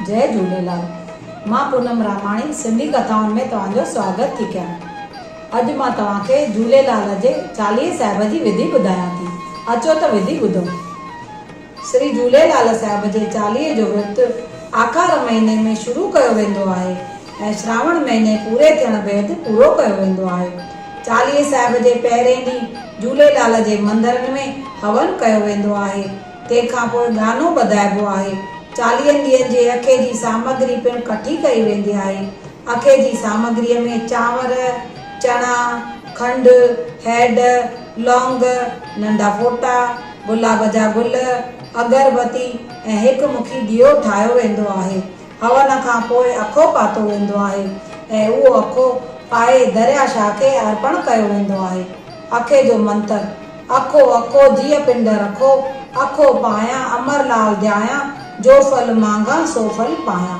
جئي جهوليلال مان پونم راماڻي سنڌي ڪٿائن ۾ توهان جو سواگت ٿي ڪيان اڄ مان توهان کي جهوليلال جي چاليهي صاحب جي وڌي ٻڌايان ٿي اچو ته وڌي ٻڌو. سري جهوليلال صاحب جي چاليهي جو ورت آکار مهيني ۾ شروع ڪيو ويندو آهي ۽ سراوڻ مهيني پوري ٿيڻ بعد پورو ڪيو ويندو آهي. چاليهي صاحب جي پهرئين ڏينهن جهوليلال جي مندرن ۾ هون ڪيو ويندو آهي، تنهن کان پوء گانو ٻڌائبو آهي. چاليهن ڏينهن جي اکي جي سامگري پڻ ڪٺي ڪئي ويندي آهي. اکي جي سامگريء ۾ چانور، چڻا، کنڊ، هيڊ، لونگ، ننڍا ڦوٽا، گلاب جا گل، اگر بتي ۽ هڪ مکي ڏيئو ٺاهيو ويندو آهي. هون کان پوء اکو پاتو ويندو آهي ۽ اهو اکو پائي دريا شاهه کي ارپڻ ڪيو ويندو آهي. اکي جو منتر، اکو اکو جيء پنڊ رکو، اکو پايان امر لال ڌيايان، جو ڦل مانگان سو ڦل پايان.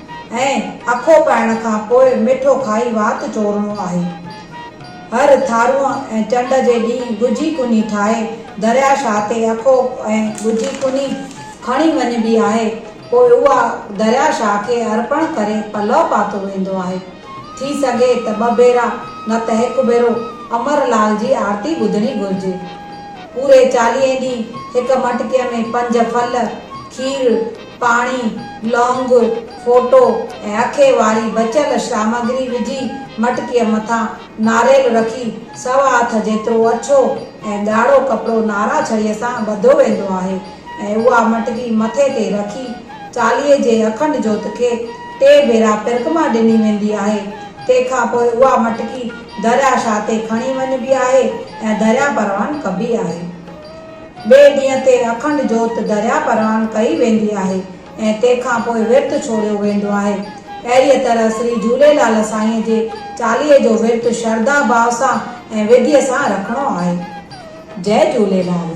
۽ اکو پائڻ کان پوء مٺو کائي وات چورڻو آهي. هر ٿارونء ۽ چنڊ جي ڏينهن ڳجهي ڪني ٺاهي درياء شاهه تي اکو ۽ ڳجهي ڪني کڻي وڃبي آهي، پوء اها درياء شاهه کي ارپڻ ڪري پلئه پاتو ويندو آهي. ٿي سگهي ته ٻه ڀيرا نه ته هڪ ڀيرو امر لال جي آرتي ٻڌڻي گهرجي. پوري چاليهين ڏينهن هڪ مٽڪيء ۾ پنج ڦل، کير، پاڻي، لونگ، ڦوٽو ۽ اکي واري بچيل سامگري وجهي مٽڪيء مٿان ناريل رکي سوا هٿ جيترو اڇو ۽ ڳاڙهو ڪپڙو نارا ڇڙيء سان ٻڌو ويندو آهي ۽ اها مٽڪي مٿي تي رکي چاليهي جي اکنڊ جوت کي ٽي ڀيرا پرڪما ڏني ويندي آهي تنهن کان پوء اها مٽڪي درياهه شاهه تي کڻي وڃبي آهي ۽ درياهه پروان ڪبي آهي. ٻئي ڏينهن تي اکنڊ جوت درياء پروان ڪئي ويندي آهي ۽ تنهن کان پوء ورت ڇوڙيو ويندو آهي. اهڙيء طرح سري جهوليلال سائينء جي چاليهي جو ورت شرڌا ڀاء سان ۽ وڌيء سان رکڻو آهي. جئه جهوليلال.